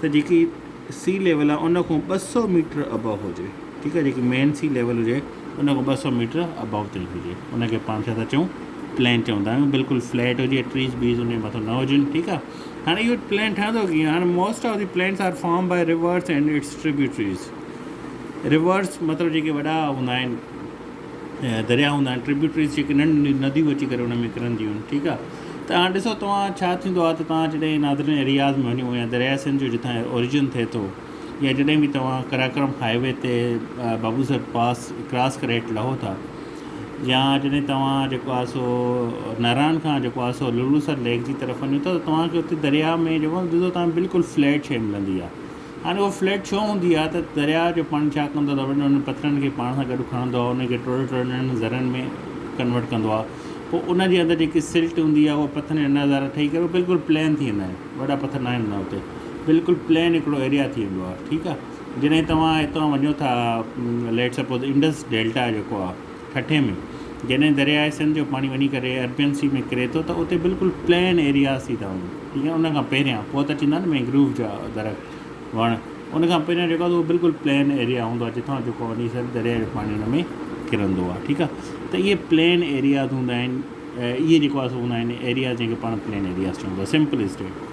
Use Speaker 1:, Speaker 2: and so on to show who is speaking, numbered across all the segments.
Speaker 1: ته جيڪي sea level آهي ان کان ٻه سؤ ميٽر ابو هجي ٺيڪ آهي جيڪي مين سي ليول هجي ان کان ٻه سؤ ميٽر ابو تائين هجي ان کي پاڻ ڇا ٿا چئون پلين چوندا آهيون بلڪل فليٽ هجي ٽريز بيز ان مٿو نه هجن ٺيڪ آهي هاڻي اهو پلين ٺهندو ڪيئن هاڻي most of the plains are form by rivers and its tributaries rivers مطلب جيڪي وڏا هوندا آهن درياء هوندا آهن Tributaries جيڪي ننڍيون ننڍيون نديون اچي ڪري ان ۾ ڪرنديون آهن ٺيڪ آهي ته هاڻ ڏسو توهان ڇا ٿيندو آهي ته توهان جڏهن ناردرن ايرياز ۾ وڃو يا درياء سنڌ جو جتان اوريجن ٿئي ٿو يا جڏهن به توهان قراقرم هاء وي تي بابو سر پاس ڪراس ڪري هيٺ لهو ٿا يا جڏهن توهان جيڪو آهي سو ناران کان جيڪو آهي سو لولو سر ليڪ جي طرف وڃو ٿا ته توهان کي اتي درياء ۾ جيڪو ڏسو توهان بلڪل فليٽ شيء ملندي آهي هاڻي اها فليٽ ڇو هوندي آهي ته درياء جو پاڻي ڇا ڪندو آهي ته وڏن وڏن پٿرن کي پاڻ سان گڏ کڻندو آهي انهن کي ٽوڙي ٽوڙي ننڍن ذرن ۾ ڪنورٽ ڪندو آهي پوء ان جي اندر جيڪي سلٽ هوندي آهي اها پٿرن جا ننڍا ذرا ٺهي ڪري بلڪل پلين ٿي ويندا آهن وڏا پٿر ناهن هوندا اتي بلڪل پلين هڪڙو ايريا ٿي ويندو آهي ٺيڪ آهي جڏهن توهان هتان وڃو ٿا ليٽ سپوز انڊس ڊيلٽا جيڪو آهي ٺٽي ۾ جڏهن درياء سنڌ جو پاڻي وڃي ڪري اربين سي ۾ ڪري ٿو ته اتي بلڪل پلين ايرياز ٿي ٿا وڃن ٺيڪ آهي ان کان پهريان پوء ته چيندا آهن مينگروف جا درخت وڻ ان کان پهريان جيڪو آهي بلڪل پلين ايريا هوندو آهي جتان جيڪو وڃي سر درياء جو پاڻي ان ۾ ڪرندو آهي ٺيڪ آهي ته اهي پلين ايرياز هوندا آهن اهي جيڪو آهي سو هوندا آهن ايرياز جنهن کي پاڻ پلين ايرياز چئون ٿا سمپل اسٽيٽ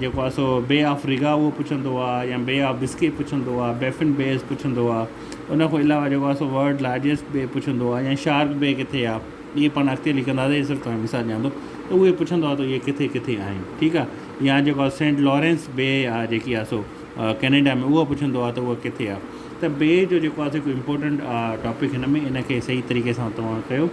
Speaker 1: جيڪو آهي سو بي آف ريگا اهو پڇندو آ يا بي آف بسڪي پڇندو آ بيفن بيز پڇندو آ ان کان علاوه جيڪو آهي سو ورلڊ لارجسٽ بي پڇندو آ يا شارڪ بي ڪٿي آ ائين پاڻ اڳتي لکنداسين هي صرف توهان کي مثال ڏيان ٿو ته اهي پڇندو آ ته اهي ڪٿي ڪٿي آهن ٺيڪ آ يا جيڪو آهي سينٽ لارينس بي آ جيڪي آ سو ڪينيڊا ۾ اهو پڇندو آ ته اهو ڪٿي آ ته بي جو جيڪو آهي سو هڪ امپورٽنٽ ٽاپڪ هن ۾ ان کي صحيح طريقي سان توهان ڪيو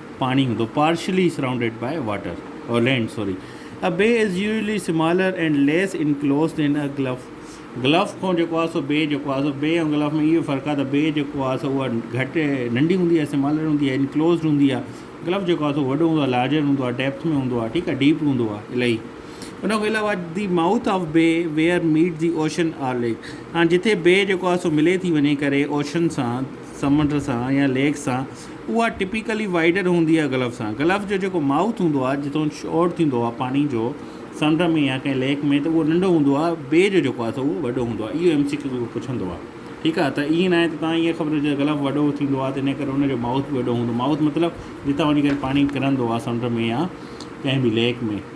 Speaker 1: پاڻي هوندو Partially surrounded by water or land sorry A bay is usually smaller and less enclosed in a gulf Gulf کان جيڪو آهي سو بي جيڪو آهي سو بي ۽ گلف ۾ اهو فرق آهي ته بي جيڪو آهي سو اها گهٽ ننڍي هوندي آهي سمالر هوندي آهي انڪلوزڊ هوندي آهي گلف جيڪو آهي سو وڏو هوندو آهي لارجر هوندو آهي ڊيپٿ ۾ هوندو آهي ٺيڪ آهي ڊيپ هوندو آهي الاهي ان کان علاوه the mouth of bay where meet the ocean or lake هاڻي جتي بي جيڪو آهي سو ملي ٿي وڃي ڪري اوشن سان سمنڊ سان يا ليڪ سان اها ٽپيڪلي وائيڊر هوندي آهي گلف سان. گلف جو جيڪو مائوٿ هوندو آهي جتان شور ٿيندو آهي پاڻي جو سمنڊ ۾ يا ڪنهن ليڪ ۾ ته اهو ننڍو هوندو آهي بي جو جيڪو آهي سو اهو وڏو هوندو آهي اهو ايم سي ڪيو پڇندو آهي ٺيڪ آهي ته ائين ناهي ته تان ائين خبر هجي ته گلف وڏو ٿيندو آهي ته ان ڪري ان جو مائوٿ به وڏو هوندو مائوٿ مطلب جتان وڃي ڪري پاڻي ڪرندو آهي سمنڊ ۾ يا ڪنهن به ليڪ ۾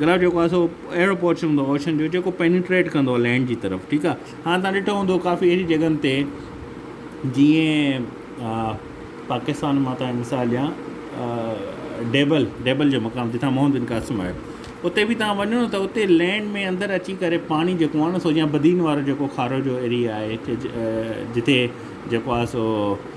Speaker 1: گلاب جيڪو آهي سو اهڙو پورشن هوندو آهي اوشن جو جيڪو پينيٽريٽ ڪندو آهي لينڊ جي طرف ٺيڪ آهي هاڻ تان ڏٺو هوندو ڪافي اهڙي جڳهن تي جيئن پاڪستان مان تان مثال ڏيان ڊيبل ڊيبل جو مقام جتان محمد بن قاسم آهي اتي بي تان وڃو ته اتي لينڊ ۾ اندر اچي ڪري پاڻي جيڪو آهي نه سو جيان بدين وارو جيڪو کارو جو ايريا آهي جتي جيڪو آهي سو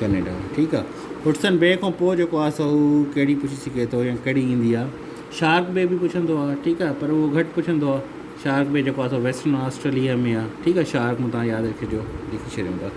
Speaker 1: ڪئناڊا ٺيڪ آ هٽسن بي کان پوء جيڪو آ سو هو ڪهڙي پڇي سگهي ٿو يا ڪهڙي ايندي آ شارڪ بي به پڇندو آ ٺيڪ آ پر اهو گهٽ پڇندو آ شارڪ بي جيڪو آ سو ويسٽرن آسٽريليا ۾ آ ٺيڪ آ شارڪ مون تان ياد رکي جو لکي ڇڏيون ٿا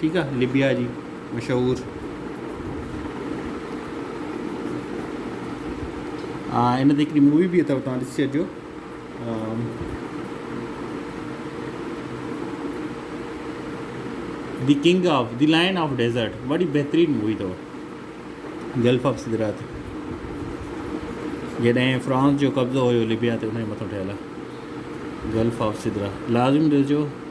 Speaker 1: ٺيڪ آ لبيا جي مشهور آ ان تي هڪڙي مووي به اٿو توهان ڏسي اچجو the king of the lion of desert وڏي بهترين مووي اٿو گلف آف سدرات جڏهن فرانس جو قبضو هيو لبيا تي ان مٿو ٺهيل آ گلف آف سدرا لازم ڏسجو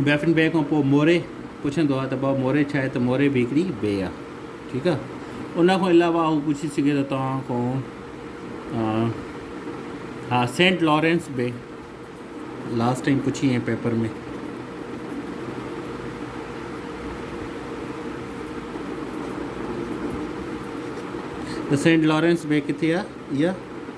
Speaker 1: بيفن بيء کان پوء موري پڇندو آهي ته بابا موري ڇا آهي ته موري به هڪڙي بيء آهي ٺيڪ آهي ان کان علاوه هو پڇي سگهي ٿو توهان کان ها Saint Lawrence bay last time پڇي هئي پيپر ۾ ته سينٽ لارينس بي ڪٿي آهي اها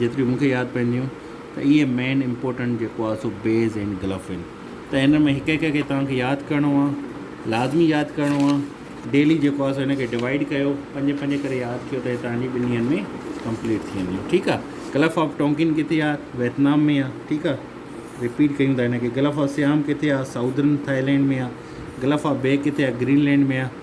Speaker 1: جيتريون مون کي ياد پون ٿيون ته اهي مين امپورٽنٽ جيڪو آهي سو بيز ۽ گلف آهن ته هن ۾ هڪ هڪ کي توهان کي ياد ڪرڻو آهي لازمي ياد ڪرڻو آهي ڊيلي جيڪو آهي سو هن کي ڊوائيڊ ڪيو پنج پنج ڪري ياد ڪيو ته هي توهان جي ٻن ڏينهن ۾ ڪمپليٽ ٿي وينديون ٺيڪ آهي گلف آف ٽونڪن ڪٿي آهي ويتنام ۾ آهي ٺيڪ آهي رپيٽ ڪيون ٿا هن کي گلف آف سيام ڪٿي آهي ساؤدرن ٿائلينڊ ۾ آهي گلف آف بي ڪٿي آهي گرين لينڊ ۾ آهي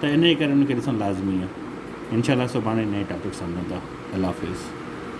Speaker 1: ته انهيء ڪري ان کي ڏسڻ لازمي آهي. انشاء الله سڀاڻي نئين ٽاپڪ سان ملندا. الله حافظ.